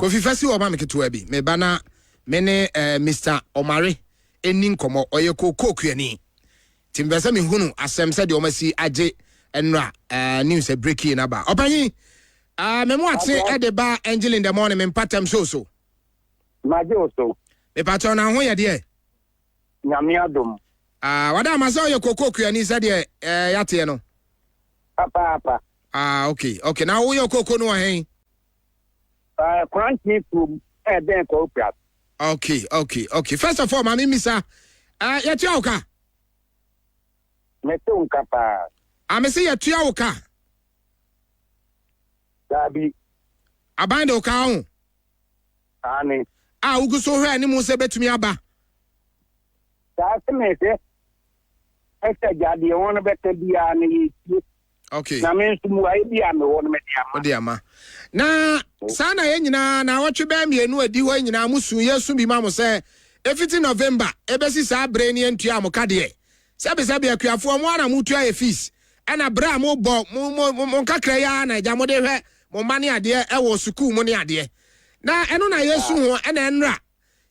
kofi fa si hɔ ma me ketewa bi meba na me ne eh, mr ɔmare ɛni nkɔmmɔ ɔyɛ kookookuani nti mepɛ sɛ mehunu asɛm sɛdeɛ ɔmasi agye nnora eh, news sɛ breaking no aba ɔpanyin eh, me mo ate ɛde ba angel in the morning me mpatam so so magye wo so mepakyɛw na ho yɛ deɛ nyame adom ah, wada ama sɛ ɔyɛ kookookuani sɛdeɛ eh, yɛateɛ no papaapa ah, okay okay na woyɛ kooko no wɔ hɛn Uh, Kranti from eh Ben Corpras. Okay, okay, okay. First of all, Mami Misa, uh, yet you okay? Metu nkapa. I'm say yet you okay? Dabi. Aban de okay ho. Ani. Ah, ugu so hwe ani mu se betumi aba. Saa se me se. Ese jade won beta bia na yetie. Okay. Na me nso mmuaeɛ bi a mewɔ no mede ama. Wode ama. Na saa na yɛn nyinaa na awɔtwe bɛyɛ mmienu adi hɔ nyinaa mo su yɛsu bi ma mo sɛ efiti November ebesi saa bere ne ntua mo ka deɛ. Sɛbisɛbi akuafoɔ mo ana mo tua yɛ fees. Ɛna bere a mo bɔ mo mo mo nkakra yi ara na agya mo de hwɛ mo mma ne adeɛ ɛwɔ sukuu mo ne adeɛ. Na ɛno na yɛsu ho ɛna ɛnra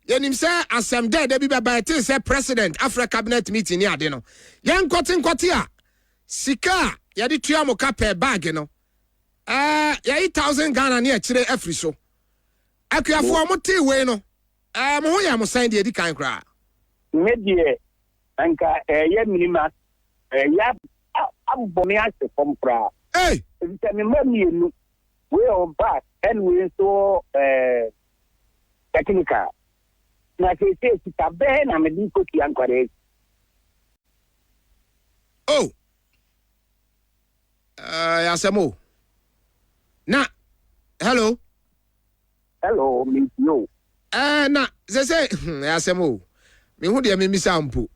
yɛnim sɛ asɛm dɛɛdɛ bi bɛba ɛte sɛ president afrɛ cabinet meeting ne ade no. Yɛnkɔte nkɔte a Sika a yɛde tua mo ka pɛɛ bag no, eh, yɛayi thousand Ghana ne akyire afiri so. Akuafoɔ, motee wei no, eh, mo ho yɛɛ mo sɛn deɛ ɛdi kan koraa? Me deɛ, anka ɛreyɛ mene ma ɛreyɛ abɔ me ahwe fam koraa. Ei! Efisɛ me mma mmienu, wei ɔwɔ bag ɛna wei nso ɔwɔ, eh, technical. Na seesei sika bɛn na mede rekotua nkwadaa yi? Oh! Ɛyɛ asɛm o. Na, hello? Hello, metie o. Ɛɛ, na seesei, hmm, ɛyɛ asɛm o. Mehu deɛ memmisa mpo.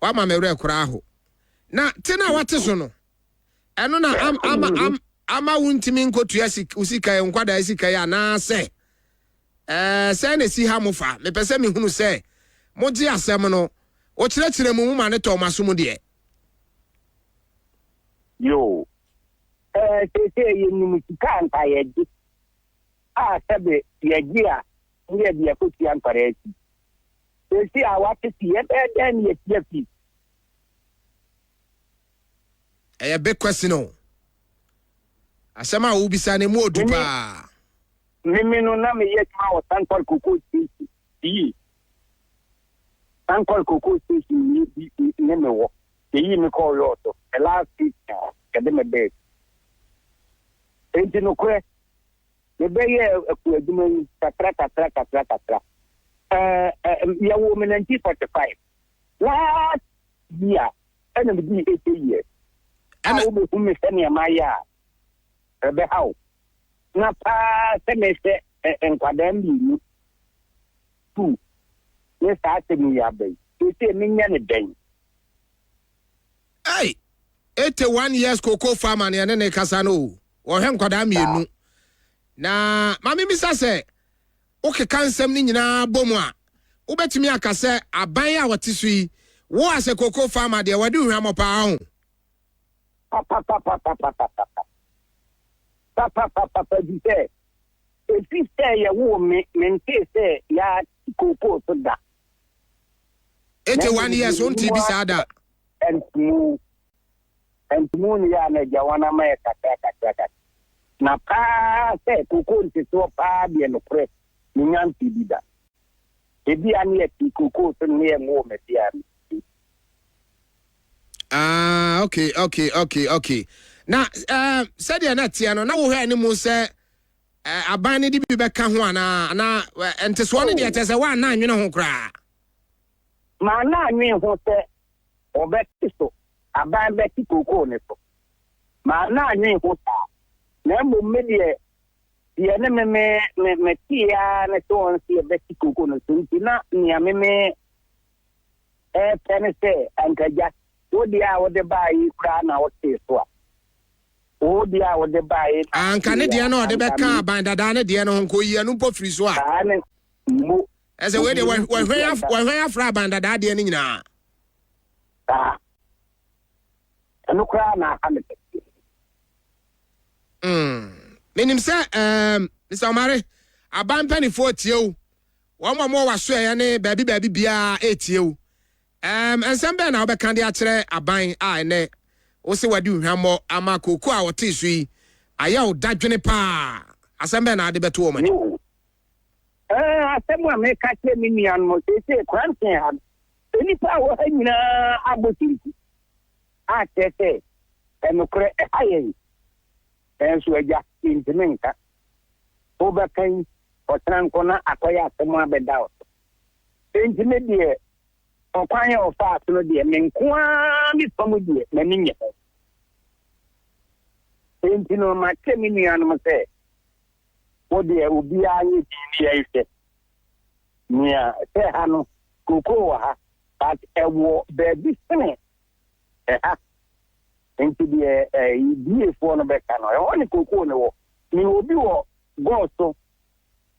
Wama me werɛ koraa ho. Na te no a wate so no, Ɛno na am, ama, am, ama wontumi nkotua sik, wo sika yi, nkwadaa sika yi, anaasɛ ɛɛ sɛn na esi ha mo fa? Mepɛ sɛ mehunu sɛ mogye asɛm no, wokyerɛkyerɛ mu, moma ne tɔ mo aso mu deɛ. Yo, ɛɛ seesei yɛnim sika a nka yɛgye, a sɛbe yɛgye a ne yɛde akɔtua nkwadaa fi. Seesei a wɔatete, yɛbɛyɛ dɛn ne yɛtua fi? ɛyɛ big question o. Asɛm a wobisa no emu odu Mimi. paa. Mimi no na meyɛ adwuma wɔ Sankɔr Cocoa Station fie. Sankɔr Cocoa Station mu yɛ bi ne me wɔ. Yɛyii me kɔɔ lɔɔ so. The last station a yɛde me bɛɛ. Enti nokorɛ, mebɛyɛɛ akuo adwuma yi kakra kakra kakra kakra. Ɛɛ, ɛɛ, yɛwoo me 1945. Last year ɛna me dii eight years. A wobɛhu me sɛnea mayɛ a ɛbɛha wo. Na paa sɛ mehwɛ nkwadaa mmienu sukuu ne saa asɛm yi aba yi. Seesei menyɛ ne dɛn? Hey, 81 years cocoa farmer ne ɛne ne kasa no o. Wɔhwɛ nkwadaa mmienu. Na ma memisa sɛ Wokeka nsɛm no nyinaa bɔ mu a, wobɛtumi aka sɛ aban a wɔte so yi woo asɛ cocoa farmer deɛ wɔde hwammɔ paa ho. Papapapapapapapa. Papapapapa efisɛ efi sɛ yɛwoo me, mentee sɛ yɛate cocoa so da. Eighty one years wontee bi saa da. Ɛnte mu. Ɛnti muhunu yɛ a na agya wɔn ama yɛ kakra kakra kakra. Na paa sɛ kokoo nteteɔ paa deɛ nokorɛ menya ntee bi da. Ebia ne yɛtee kokoo so no ne yɛ nwoo me bea no. Ah ok ok ok ok na eh, sɛdeɛ na ɛteɛ no na wohwɛ ne mu sɛ eh, aban no de bi bɛka ho anaa anaa eh, ntesoɔ no deɛ kyɛ sɛ woanna anwene ho koraa. maa no annwen ho sɛ ɔbɛte so aban bɛte kookoo no so, maa no annwen ho saa, na mmom me deɛ, deɛ ne me me me metee ara ne sɛ wɔn se ɛbɛte kookoo no so, nti na nea me me ɛrepɛ ne sɛ anka Agya, wo deɛ a wode baeɛ yi koraa na wotee so a, wo deɛ a wode baeɛ yi na wotee a, anka me. Anka ne deɛ na ɔde bɛka aban dadaa ne deɛ no ho, nka oyi ɛno mpo firi so a. Saa ne mmo Ɛsɛ wei deɛ wɔhwɛn afra aban dada adeɛ no nyinaa. Saa. Ɛno koraa na aka me pɛtee. Hmm. Menim sɛ ɛɛm Mr. Omare aban mpanimfoɔ tie wo. Wɔn a wɔwɔ w'asoɛeɛ ne baabi baabi biara ɛretie wo. Ɛɛm nsɛm bɛn na wobɛka de akyerɛ aban a ɛnɛ wo se wadi hwammɔ ama kooko a wɔtee so yi ayɛ wo dadwene paa. Asɛm bɛn na ade bɛto wɔn anim? Ɛɛ, asɛm a meka kyerɛ me nuanom seesei Kranten ha no, nnipa a ɛwɔ ha nyinaa abɔ kyenku akyerɛ sɛ ɛnokorɛ ɛha yɛn. Nanso agya, mentumi nka. Wobɛka yi, kɔtena nko na akɔyɛ asɛm abɛda wo so. Enti me deɛ, ɔkwan a ɔfaa so no deɛ, me nko ara me fam deɛ, m'ani nnye ho. Enti no, makyerɛ me nuanom sɛ, Wo deɛ obiara nyɛ din ne yɛn hwɛ nea sɛ ha no kokoo wɔ ha but ɛwɔ baabi sene ɛha nti deɛ ɛdiefoɔ no bɛka no ɛhɔ ne kokoo no wɔ ne obi wɔ gɔɔ so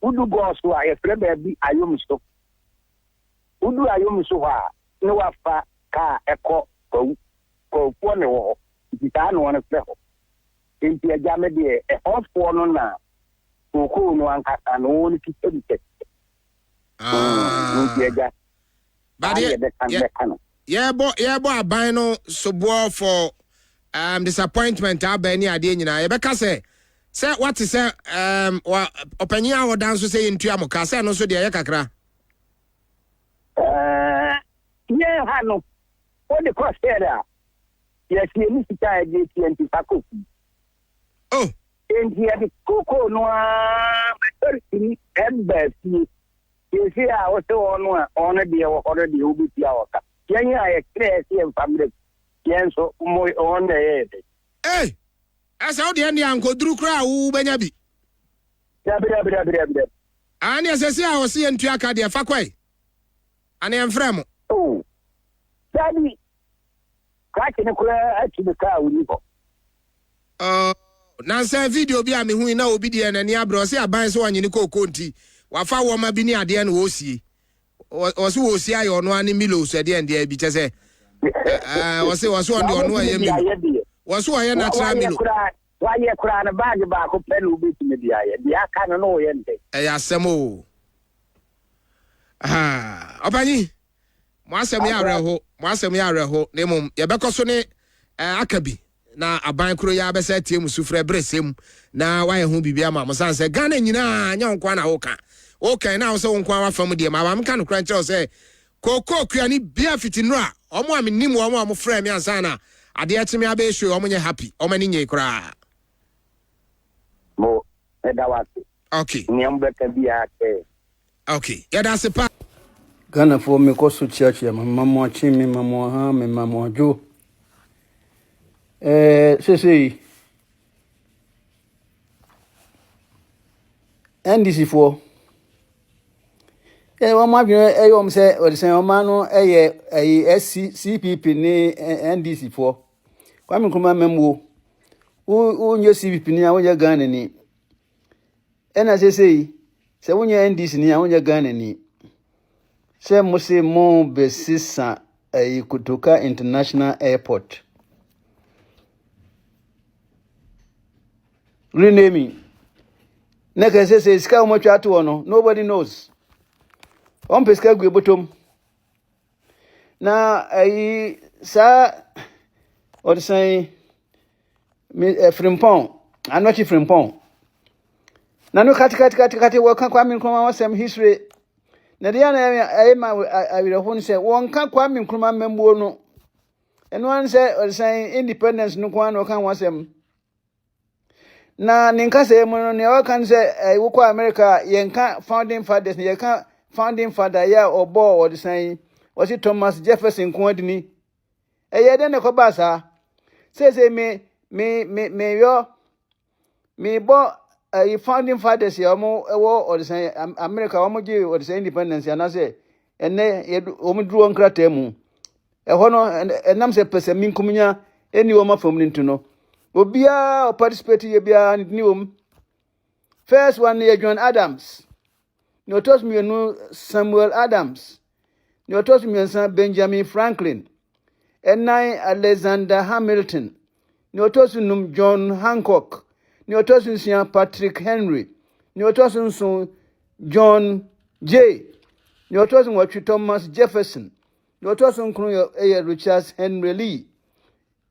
wodu gɔɔ so a yɛfrɛ baabi ayom so wodu ayom so hɔ a ne wafa kaa ɛkɔ kwawu kwawofoɔ ne wɔ hɔ nti saa ne wɔn frɛ hɔ Enti agya me deɛ ɛhɔs foɔ no na kookoo no ankasa no wɔn kisa bi kɛseɛ mm nti Ah. agya But saa yɛ deɛ bɛka yɛ bɛka no. yɛbɔ yɛbɔ aban no soboɔ for um, disappointment a aba ne adeɛ nyinaa. Yɛbɛka sɛ sɛ wate sɛ um, wa ɔpanyin a ɔda nso sɛ yɛntua mo ka sɛ ɛno nso deɛ ɛyɛ kakra. Ɛɛ, yɛn ha no wode kɔ sɛre a Yɛasie ne sika a yɛde atua nti, fa kɔ fie. Oh! Enti yɛde kokoo no ara ma Dorothy de baa fie. Seesei a wose wɔn no a wɔn deɛ wɔ hɔ no deɛ, wobetua wɔn ka. Yɛn a yɛkyerɛɛ sɛ yɛmfa mmrɛ fie, yɛn nso, mo, wɔn na ɛyɛɛ dɛn? Ei! Ɛsɛ wo deɛ ɛnde ankoduru koraa a wubenya bi. Dabi, dabi, dabi, dabi, dabi. Aane, seesei a wɔse yɛntua ka deɛ, fa kɔ ɛ. Anaa yɛmfrɛ mo? Oh, dabi, Krakye no koraa atu me kaa woni hɔ. Oh, nansa video bi a mehui na obi deɛ n'ani abrɛ ɔse aban sɛ ɔnyene kookoo nti wafa wɔma bi ne adeɛ na wɔresie ɔse wɔresie ayɛ ɔno ane milo so ɛdeɛ ndeɛ bi kyɛ sɛ ɔse ɔse ɔno deɛ ɔno ɛyɛ milo wɔse ɔyɛ natural milo wayɛ koraa no baage baako pɛ na wobɛtumi de ayɛ deɛ aka no na wɔyɛ ndɛ ɛyɛ asɛm o ɔpanyin Mo asɛm yɛ awerɛho, mo asɛm yɛ awerɛho, na mmom yɛbɛkɔ so ne aka bi na aban koro yi ara bɛsa atie mo sufrɛ bere sɛ mu na wayɛ ho biribi ama mo sane sɛ Ghana nyinaa nyɛ wo nkoa na woka woka na wo sɛ wo nkoa wafa mu deɛ ma ba meka nokora nkyerɛ wo sɛ kookoo kua ne bia fiti nnuro a ɔmo a menim wɔn a ɔmo frɛ me ansa na adeɛ kye me abɛyɛ show ɔmo nyɛ happy ɔmo ani nyei koraa mo ɛda wase okay nea mo bɛka biara sɛ Ok yɛda ase paa. Ghana foɔ me kɔ so kyea kyea me ma mo akye me ma mo aha me ma mo adwo ɛɛ sesei NDC foɔ ɛɛ wɔn adwene ɛyɛ wɔn sɛ wɔde sɛn wɔn ano ɛyɛ ɛyi ɛsi CPP ne NDC foɔ Kwame Nkrumah mɛmuo wo wo nyɛ CPP ni a wo nyɛ Ghana ni Ɛna sesei sɛ wonyɛ NDC ni a wonyɛ Ghana ni. Sɛ mo se mo bɛsesa ɛyi Kotoka International Airport. Renaming. Na kɛ sesei sika wɔn atwa ato hɔ no nobody knows. Wɔn pɛ sika gu ebotom. na ayi saa ɔdesan yi me eh, frimpɔn anɔkye frimpɔn na no katekatekate wɔka kwame nkrumah wɔsɛm history na deɛ na ɛyɛ ma awerɛho no sɛ wɔnka kwame nkrumah mmammuo no ɛno ara ne sɛ ɔdesan independence no ko ara na wɔka ho asɛm Na ne nkasa mu no, nea ɔka no sɛ eh, wokɔ America a, yɛnka founding fathers na yɛka founding father yɛ a ɔbɔɔ ɔdesan yi, ɔse Thomas Jefferson nko adini. Ɛyɛ dɛn na ɛkɔbaa saa? Seesei me me me meyɔ mebɔ ɛyi eh, founding fathers yɛ wɔn wɔ ɔdesan America wɔn gye ɔdesan independence anaasɛ ɛnɛ yɛde wɔn duru wɔn nkrataa mu ɛhɔ no ɛnam sɛ pɛsɛ minkominya ɛni wɔn afam no nti no obiara ɔparticipate yɛ biara ne ni wɔm first one no yɛ john adams nea ɔtɔ so mmienu samuel adams nea ɔtɔ so mmiɛnsa benjamin franklin ɛnan alexander hamilton Nea ɔtɔ so num, John Hancock. Nea ɔtɔ so nsia, Patrick Henry. Nea ɔtɔ so nson, John Jay. Nea ɔtɔ so nwɔtwe, Thomas Jefferson. Nea ɔtɔ so nkron yɛ ɛyɛ Richard Henry Lee.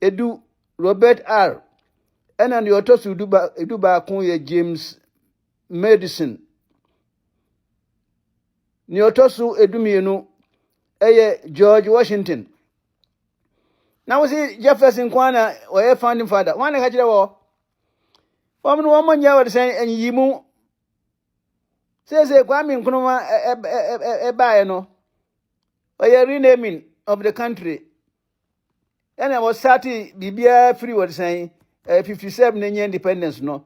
Edu, Robert R. Ɛna nea ɔtɔ so du ba edu baako yɛ James Madison. Nea ɔtɔ so edu mmienu ɛyɛ George Washington. na wo se jefferson nko ara na ɔyɛ founding father wɔn na ka kyerɛ wɔ wɔn no wɔn nyɛ wɔde sɛn anyiyi mu seesei kwame nkrumah ɛbaeɛ no ɔyɛ renaming of the country ɛna wɔsate biribiara firi wɔde sɛn ɛɛ fifty seven na nyɛ independence no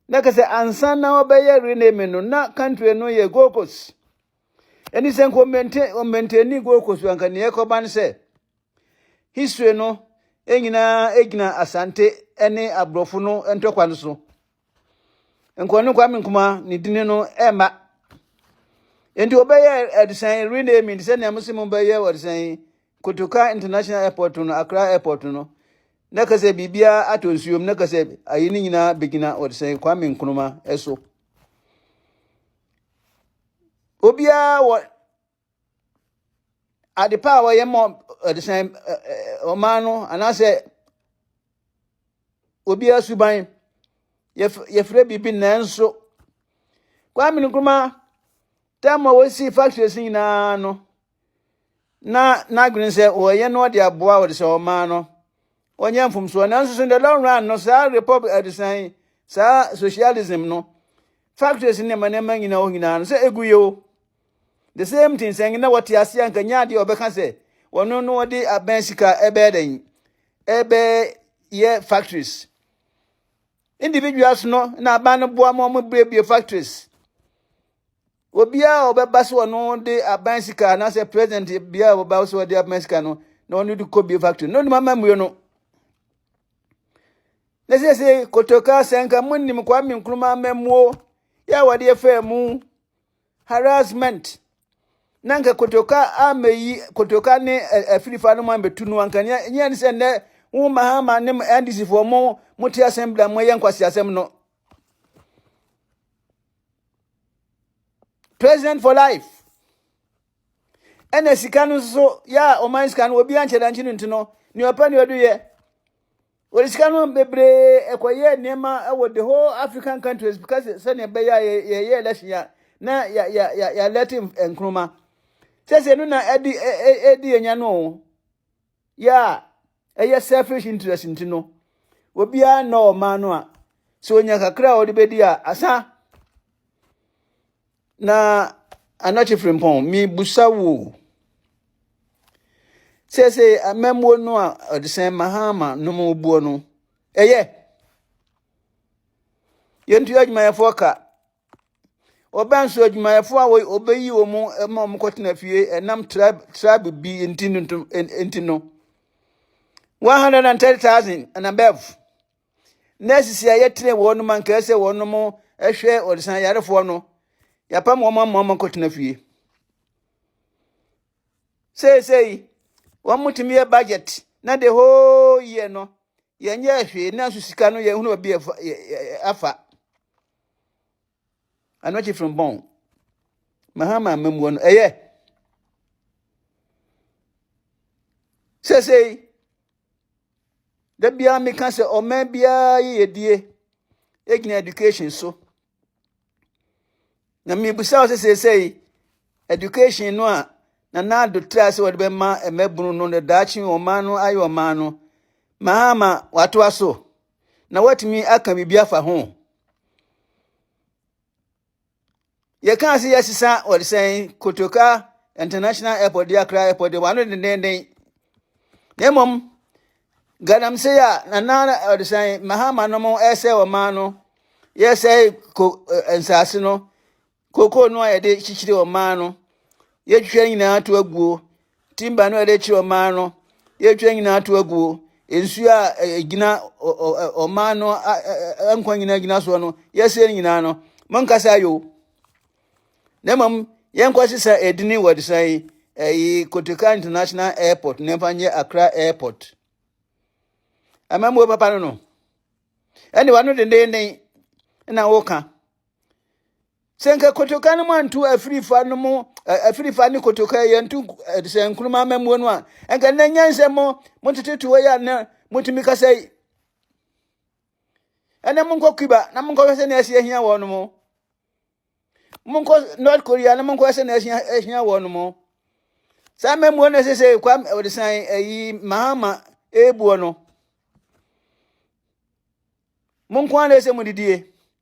na kɛsɛ ansa na wɔbɛyɛ renaming no na country no yɛ gold coast. Ɛne sɛ nka ɔmmɛntɛni Gold Coast anka nea ɛkɔba ne sɛ history no nyinaa gyina Asante ne aborɔfo no ntɔkwa no so. Nka ɔne Kwame Nkrumah ne dini no ɛmma. Enti wɔbɛyɛ ɛdesan renaming te sɛ nea mo se mo bɛyɛ ɔdesan Kotoka International Airport no Accra Airport no na ka sɛ biribiara atɔ nsuom na ka sɛ ayi ne nyinaa bɛgyina ɔdesan Kwame Nkrumah so. obiara wɔ ade pa a wɔyɛ ma ɔdesan ɔman no anaasɛ obiara suban yɛfrɛ biribi nanso kwame nkrumah tam a wɔsi factories nyinaa no na n'adwene sɛ ɔyɛ no ɔde aboa ɔde sɛ ɔmaa no ɔnyɛ mfomsoɔ nanso so in the long run no saa republic adesan saa socialism no factories ne ma nneɛma nyinaa hɔ nyinaa no sɛ egu yɛ o the same thing sɛ na wɔte ase a nka nya adeɛ ɔbɛka sɛ wɔno no wɔde abɛn sika ɛbɛyɛ dɛn ɛbɛyɛ factories individuals no na aban no boa ma wɔn buebue factories Obiara a ɔbɛba sɛ ɔno de aban sika anaasɛ president biara a ɔbɛba sɛ ɔde aban sika no na ɔno de kɔ bie factory no nim amammue no na sese kotoka asɛnka mu nim kwame nkrumah amammuo yɛ a wɔde faa mu harassment na nka kotoka amɛyi kotoka ne afirifa no mu amɛtu no anka nyɛ ne sɛ nnɛ wo mahama ne ndc foɔ mo mo te asɛm bila mo yɛ nkwasi asɛm no president for life ɛna sika no nso yɛ a ɔman sika no obi ankyɛ dankye no nti no nea ɔpɛ nea ɔde yɛ wɔde sika no bebree ɛkɔyɛ nneɛma ɛwɔ the whole african countries because sɛnea ɛbɛyɛ a yɛyɛ election ya na ya ya ya ya lɛte nkroma sɛsɛ no na ɛde ɛde yɛnya no o yɛ a ɛyɛ selfish interest nti no obiara nnɔ ɔman no a sɛ onya kakra a ɔde bɛdi a asa na anɔkye firimpɔn mebusa wo sɛ sɛ amammuo no a ɔde sɛn mahama nom obuo no ɛyɛ yɛntu adwumayɛfoɔ ka Ɔbɛn nso adwumayɛfo a wɔbɛyi wɔn ma wɔn kɔtena fie ɛnam tribe tribe bi nti no nti no one hundred and thirty thousand and above nurses a yɛtene wɔn no ma nkae sɛ wɔn mo ɛhwɛ ɔdesan yarefoɔ no yɛapam wɔn ama wɔn kɔtena fie seesei wɔn mo tumi yɛ budget na the whole year no yɛnyɛ hwee nanso sika no yɛhunu baabi afa. Ano akyi from bɔn. Mahama amammuo no ɛyɛ. Sɛsɛyi, da biara meka sɛ ɔman biara yiyedie ɛgyina education so. Na mebusa wo sɛ sɛsɛyi, education no a na naado tra sɛ wɔde bɛma mmabunu no na daakye ɔman no ayɛ ɔman no, mahama watoa so. na watumi aka biribi afa ho. Yɛkaa sɛ yɛasesa wɔde sɛn Kotoka International Airport de Accra Airport de wɔano dendenden. Na mmom galamsey a nana wɔde sɛn Mahama no mo ɛsɛ wɔn maa no yɛsɛe ko eh, nsaase no Kooko no a yɛde kyekyere ɔman no, yɛtwitwa nyinaa to aguo. Timba no a yɛde kyerɛ ɔman no, yɛtwitwa nyinaa to aguo. Nsuo a ɛgyina ɔman no nkwa nyinaa gyina soɔ no, yɛsɛ no nyinaa no, monkasa ayo. Na mmom, yɛnkɔ sesa edini wɔ desan yi, ɛyi Kotoka International Airport, na ɛmfa nyɛ Accra Airport. Amammuo papa no no, ɛne wa no dendenden na woka. sɛ nka kotoka no mu anto afirifa no mu afirifa ne kotoka yɛ nto sɛ nkuruma amamuo no a nka nnɛ nyansɛ mo motete toɔ yɛ a na motumi kasa yi ɛnɛ monkɔ cuba na monkɔhwɛ sɛ na asi ahia wɔ no mo monkɔ north korea na monkɔhwɛ sɛ na asi ahia wɔ no mo saa amamuo no ɛsɛ sɛ kwa ɔde san ayi mahama ɛbuo no monko ara na ɛsɛ mo didie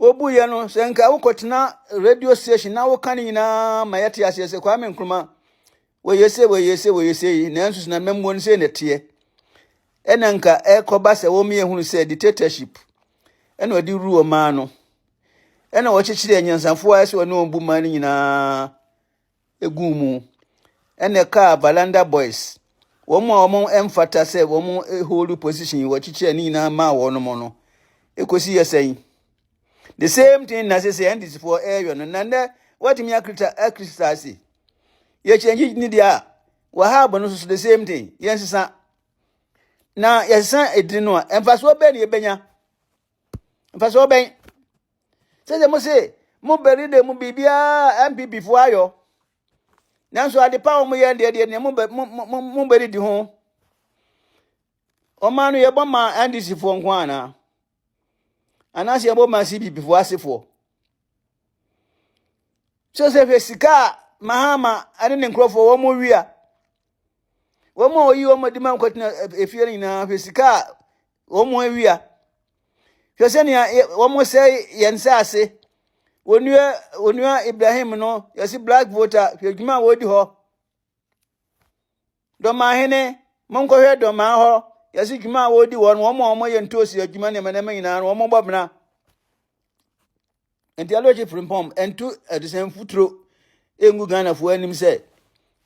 Wobuiɛ no, sɛ nka wokɔtena radio station na woka ne nyinaa ma yɛte aseɛ sɛ Kwame Nkrumah wɔyɛ se wɔyɛ se wɔyɛ se yi nanso sinamammuo no sei na ɛteɛ ɛna nka ɛkɔba sɛ wɔmyɛ hunu sɛ dictatorship ɛna ɔde wuru ɔmaa no ɛna wɔkyekyere anyansafoɔ a ɛsɛ ɔne wɔn bu maa no nyinaa guu mu na ɛkaa Balanda Boys, wɔn a wɔn mfata sɛ wɔn hold position yi wɔkyekyɛ ne nyinaa maa wɔn mo no, ɛkɔsi yɛ sɛn? The same thing na sɛ sɛ NDC foɔ ɛreyɔ no, na nnɛ wɔatumi akirita akirita ase. Yɛkyɛngye ne deɛ a, wɔhaabo no nso the same thing, yɛnsesa. Na yɛsesa edin no a, mfasoɔ bɛn na yɛbɛnya? Mfasoɔ bɛn? sɛ sɛ mo se mo bɛri de mu biribiara npp fo ayɔ nanso adepa a wɔyɛ deɛ deɛ deɛ mo bɛri di ho ɔman no yɛbɔ ma ndc foɔ nko anaa anaasɛ yɛbɔ ma cpp foɔ asefoɔ sɛ sɛ hwɛ sika a mahama ne ne nkurɔfoɔ wɔn mo wia wɔn a wɔyi wɔn adi ma nkɔtena efie no nyinaa hwɛ sika a wɔn mo awia hwɛ sɛnea wɔsɛe yɛn nsaase onua onua ibrahim no yɛsi black voter hwɛ adwuma a wɔdi hɔ dɔmaa hene monkɔhwɛ dɔmaa hɔ yɛsi dwuma a wɔdi hɔ no wɔn a wɔyɛ ntoosi adwuma nneɛma nneɛma nyinaa no wɔn bɔ bena Nti ɛno akyi frimpɔm ɛnto adesɛn futuro ɛngu Ghanafoɔ anim sɛ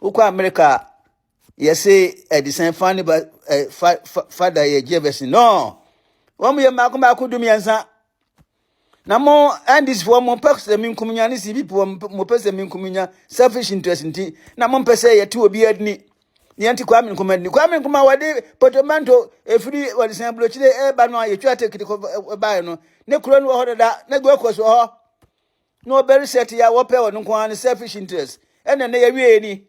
wokɔ Amerika a yɛse adesɛn fa ne ba fa fa fa da yɛ gyevɛs no wɔn yɛ mmaako mmaako du mmiɛnsa na mo ndc foɔ mo pɛ sɛ mi nkum nya ne cpp foɔ mo pɛ sɛ mi nkum nya selfish interest nti na mo mpɛ sɛ yɛte obi adini Nea nti Kwame Nkrumah ni. Kwame Nkrumah wɔde potomanto efiri wɔde sɛn burokyire ɛreba no a yɛtwa tekiti kɔ baeɛ no ne kuro no wɔ hɔ dada na Gold Coast wɔ hɔ na wɔbɛre sɛ te a wɔpɛ wɔn nko ara ne selfish interest ɛna ne yɛwie ni.